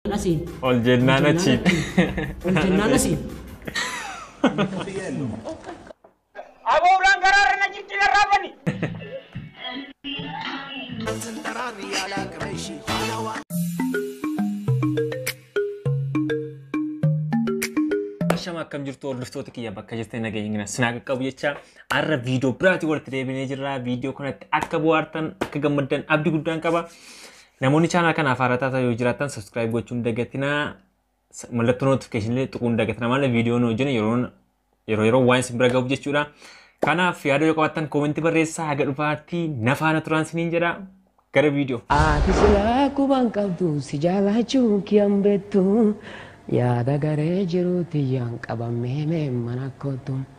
asiin. Ol jennaan achiin. Ol jennaan asiin. Abooraan garaarra na jirti na raafani. Shama akkam jirtu hordoftoota kiyya bakka jirtan nageenya gina sinaa qaqqabu jecha har'a viidiyoo biraatiin walitti deebinee jirra. Viidiyoo kanatti akka bohaartan akka gammaddan abdii guddaan qaba. Namoonni channel kanaaf haaraa taatan yoo jiraattan subscribe gochuun hin dagatinaa. S- Mallattoo notification illee tuquun hin dagatinaa malee viidiyoo nu hojjenne yeroo yeroo yeroo waan isin bira gahuuf jechuudha. Kanaaf yaada yoo qabaattan koomentti barreessaa haga dhufaatti na faana turaan siniin jedha. Gara viidiyoo. Ati silaa quban qabdu si jaalachuun kiyan beektu yaada garee jiruuti yaan qabamee mee mana kootu.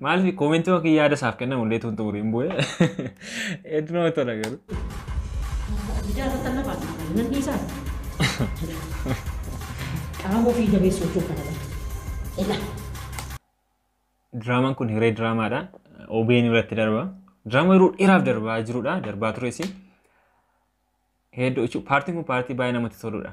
Maaliif koomentii yookiin yaada isaaf kennamu illee tuun xumuri hin bu'e. Hedduu nama tola garuu. Ijaa irratti lafa nan dhiisaa. Qaama ofii jabeessu hojii kana lafa. Ilaa. Diraamaan kun hiree diraamaadha. OBN irratti darba. Diraamaa yeroo dheeraaf darbaa jirudha. Darbaa tures. Hedduu jechuun paartiin kun paartii baay'ee namatti toludha.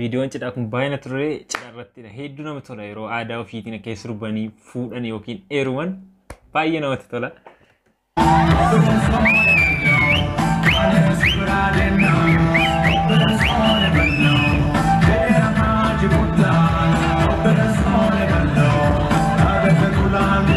Viidiyoon cidhaa kun baay'ee natti tolee cidha irrattidha. Hedduu namatti tola yeroo aadaa ofiitiin akka sirbanii fuudhan yookiin heeruman baay'ee namatti tola.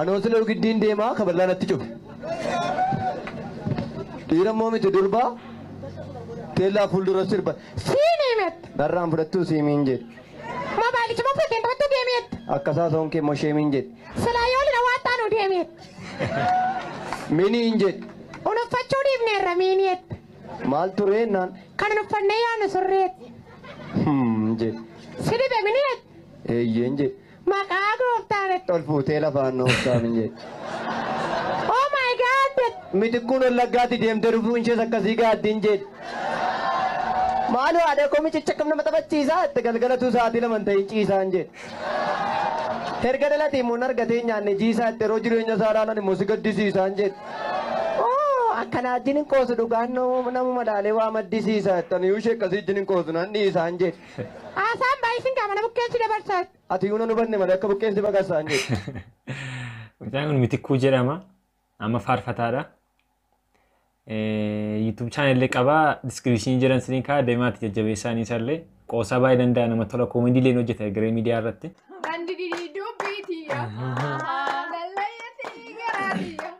Anoo silayu giddiin deemaa kaballaa natti cufe. Dhiira immoo miti durba teellaa fuuldura sirba siimii mette narraan fudhattuu siimiin jedhe. Moobaayilichi moo fudhatteen taphattuu geemii jette. Akkasaa soon kee immoo sheemiin jedhe. Silaa yoo lina waan taanu deemii jette. Miniin jedhe. Unuffachuu dhiifneerra miinii jette. Maal turee naan Kan unuffannee yaanu surree jette. hmm jedhe. Si dhibe minii jette. Eeyyeen jedhe. Maqaa gooftaan itti ol fuutee lafaan nu obsaam hin jettu. Oh my God jette. Mitikkuun Wallaggaatti deemtee dhufuu ishees akkasii gaaddi hin jedhu. Maaloo haadha koo micicha kam nama taphachiisaa itti galgalatuu sa'aatii lama hin ta'in ciisaa hin jedhu. Erga dhalatee immoo hin argatee nyaanne jiisaa itti yeroo jireenya isaa ilaalan immoo si gaddisiisaa hin jedhu. Oo akkanaa wajjin hin qoosu dhugaan namuma laalee waa maddisiisaa itti aniyuu ishee akkasii wajjin hin qoosu nan dhiisaa hin jedhu. Haasaan baay'isin qaama na bukkeessi dabarsa. Ati yuuna nu banne malee akka bukkeessi baqassa hin jedhu. Mucaan kun Mitikkuu jedhama. Amma faarfataadha. YouTube channel illee qaba. Description jiran siniin kaa deemaatti jajjabeessaa ni isallee. Qoosaa baay'ee danda'a nama tola koomedii illee hojjeta garee miidiyaa irratti. Bandi didii dubbii tiyya. Lallayyatti garaa tiyya.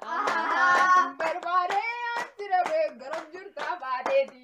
Barbaadee as jira beekaram jirta baadee tiyya.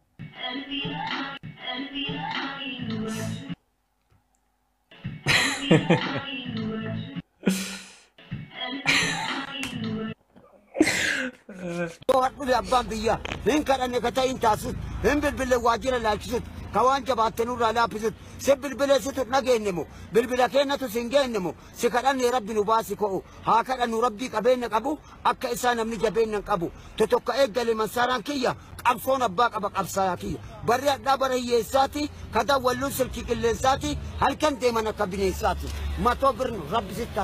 To'adhule abbaan biyyaa hin kadhanne ka ta'in taasisutti hin bilbille waajjira laalchisutti ka waan jabaatte nurraa laaffisutti si bilbile situ hin dhageenye moo bilbila kennatu si hin geenne moo Si kadhanne rabbi nu baasi ko'u haa kadhannu rabbii qabeenna qabu akka isaa namni jabeenna hin qabu totokka eeggale mansaaraan kiyya qabsoon abbaa qaba qabsaayaa kiyya barri hadhaa bara hiyyeessaati ka dawwalluun silkii qilleensaati halkan deeman akka bineensaati matoo birn rabbi sitta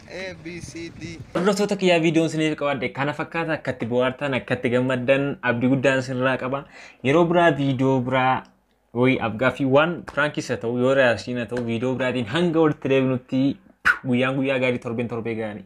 A, B, C, D. Hordoftoota kiyyaa viidiyoon isiniif qabadhe kana fakkaata akkatti bohaartan akkatti gammaddan abdii guddaan isinirraa qaba. Yeroo biraa viidiyoo biraa wayii afgaaffii waan piraankis haa ta'u yoo reyaasiin haa ta'u viidiyoo biraatiin hanga walitti deebinutti guyyaan guyyaa gaarii torbeen torbee gaarii.